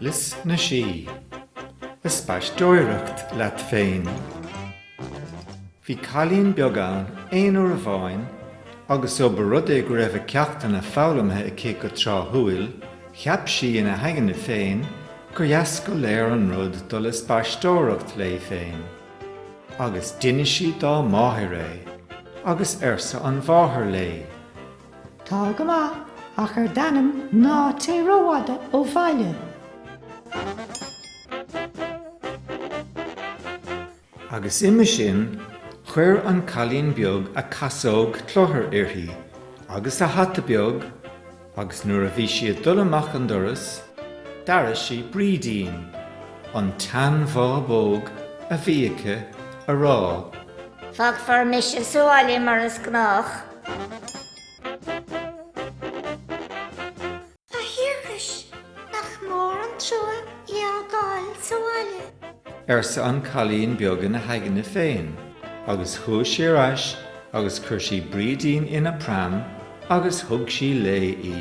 Lios na Sí. Ag spaisteoireacht leat féin. Bhí cailín beag ann aon uair amháin agus ó ba rud é go raibh a ceachtanna foghlamtha aici go tráthúil, cheap sí ina haigne féin gur dheas go léor an rud dul ag spaisteoireacht léi féin. Agus d'inis sí dá máthair é. Agus arsa an mháthair léi. Tá go maith, ach ar d'anam ná téigh rófhada ó bhaile. Agus uime sin chuir an cailín beag a casóg cluthar uirthi agus a hata beag agus nuair a bhí sí ag dul amach an doras d'airigh sí Brídín, an tseanbhábóg a bhí aici, ag rá. Fágfar mise sa bhaile mar is gnách. A Thiarcais, nach mór an trua í a fhágáil sa bhaile. arsa an cailín beag ina haigne féin, agus chuaigh sí ar ais agus chuir sí Brídín ina pram agus thug sí léi í.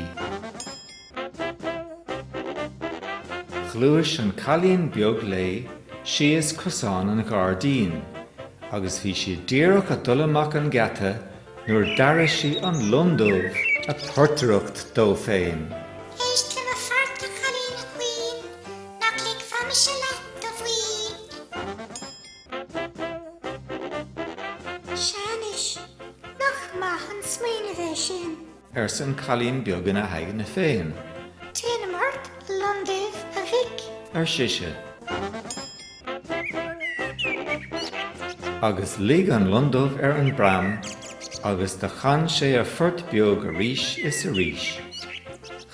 Ghluais an cailín beag léi síos cosán an ghairdín agus bhí sí díreach ag dul amach an geata nuair d'airigh sí an lon dubh ag portaireacht dó féin. Éist le mo phort a chailín chaoin, nach ligfeá mise leat a mhaoin. Sea anois, nach maith an smaoineamh é sin. arsa an cailín beag ina haigne féin. Téanam ort a loin duibh, a mhic. ar sise. Agus luigh an lon dubh ar an bpram agus do chan sé a phort beag arís is arís.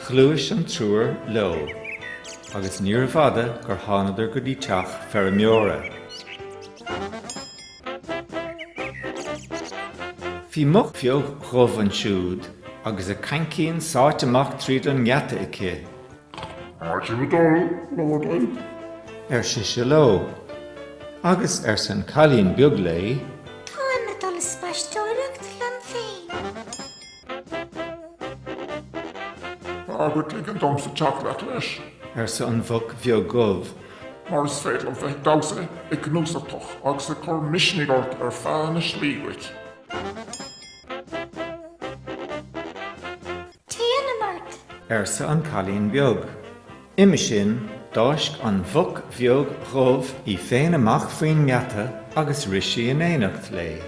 Ghluais an triúr leo agus níorbh fhada gur thánadar go dtí teach feirmeora. Bhí muc bheag dhubh ansiúd agus a caincín sáite amach tríd an ngeata aici. Cá bhfuil sibh ag dul, Lordaí? ar sise leo. Agus, arsa an cailín beag léi. Táim ag dul ag spaisteoireacht liom féin. Tá agat ligean domsa teacht leat leis. arsa an mhuc bheag dhubh. mar is féidir liom bheith ag damhsa, ag gnúsachtach agus ag cur misnigh ort ar feadh na slí duit. Téanam ort! arsa an cailín beag. Uime sin, d'fháisc an mhuc bheag dhubh í féin amach faoin ngeata agus rith sí in éineacht léi.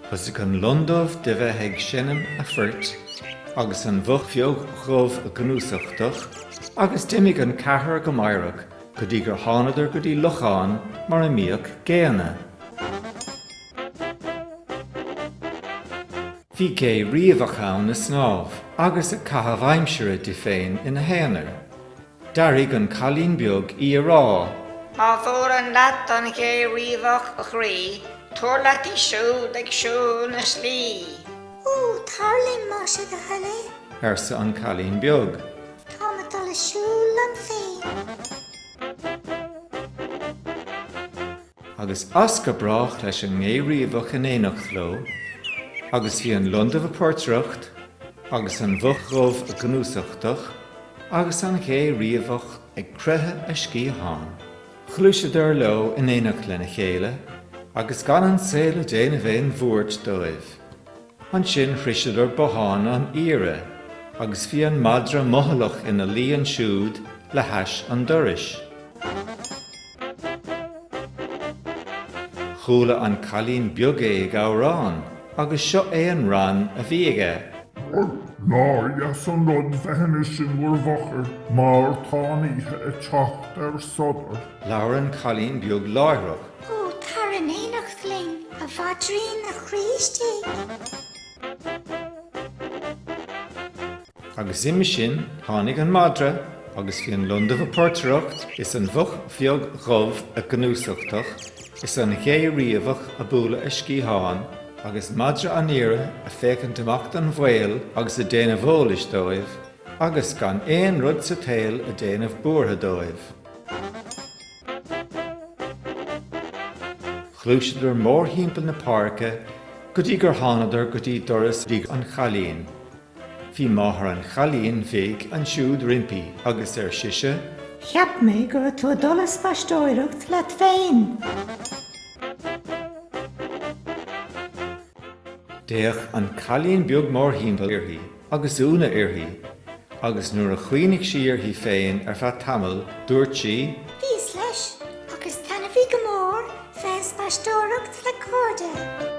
Thosaigh an lon dubh de bheith ag seinm a phoirt agus an mhuc bheag dhubh a gnúsachtach agus d'imigh an ceathrar go meidhreach go dtí gur thánadar go dtí lochán mar a mbíodh géanna. Bhí gé riabhach ann a snámh agus ag caitheamh aimsire di féin ina haonar. D'airigh an cailín beag í a rá. Má bhuaileann leat an ghé riabhach, a chroí, tabhair leat í siúd ag siúl na slí. Ó, tar linn, más é do thoil é. arsa an cailín beag. Táim ag dul ag siúl liom féin. Agus as go brách leis an ngé riabhach in éineacht leo, agus bhí an londubh a portaireacht, agus an mhuc dhubh a gnúsachtach, agus an ghé riabhach ag croitheadh a sciathán. Ghluaiseadar leo in éineacht lena chéile, agus gan an saol ag déanamh aon bhuairt dóibh. Ansin shroiseadar bothán an aoire agus bhí an madra mothallach ina luí ansiúd le hais an dorais. Chuala an cailín beag é ag amhrán agus seo é an rann a bhí aige. Bhuel, nár dheas an rud bheith anois in bhur bhfochair, mar tá an oíche ag teacht ar sodar. Labhair an cailín beag láithreach. Ó, tar in éineacht linn, a mhaidrín, a chroí istigh. Agus uime sin tháinig an madra agus bhí an londubh a portaireacht is an mhuc bheag dhubh a gnúsachtach is an ghé riabhach a bualadh a sciathán agus madra an aoire a féachaint amach don bhaol agus a déanamh eolais dóibh agus gan aon rud sa tsaol a déanamh buartha dóibh. Ghluaiseadar mórthimpeall na páirce go dtí gur thánadar go dtí doras thigh an chailín. Bhí máthair an chailín bhig ansiúd roimpi agus ar sise. Cheap mé go raibh tú ag dul a spaisteoireacht leat féin! D'fhéach an cailín beag mórthimpeall uirthi. agus ionadh uirthi, agus nuair a chuimhnigh sí uirthi féin ar feadh tamaill, dúirt sí. Bhíos leis, ach is taitneamhaí go mór bheith a spaisteoireacht le cairde.